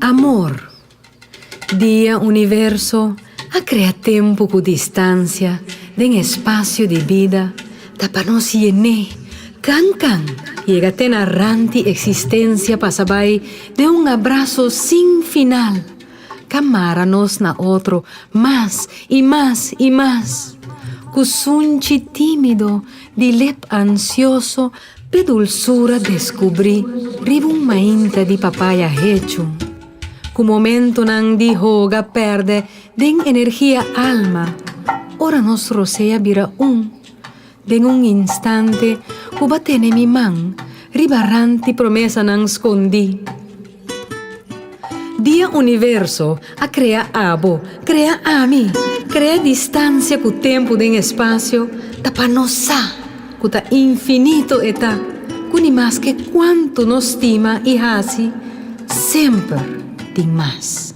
Amor Dia Universo a krea tempu ku distansia den e spasio di bida ta pa nos yen'é kan kan yega te na ranti eksistensia pasa bai den un abraso sin final. Ka mara nos na otro mas i mas i mas. Ku sunchi timido di lep ansioso p'e dulsura deskubrí riba un mainta di papaya hechu. Ku momentunan di hoga pèrdè den energia alma, ora nos rosea bira un. Den un instante ku ba tene mi man riba ranti promesanan skondí. Dia universo a krea abo, krea ami, krea distansia ku tempu den espasio ta pa nos sa ku ta infinito e ta ku ni maske kuantu nos stima i hasi semper tin mas.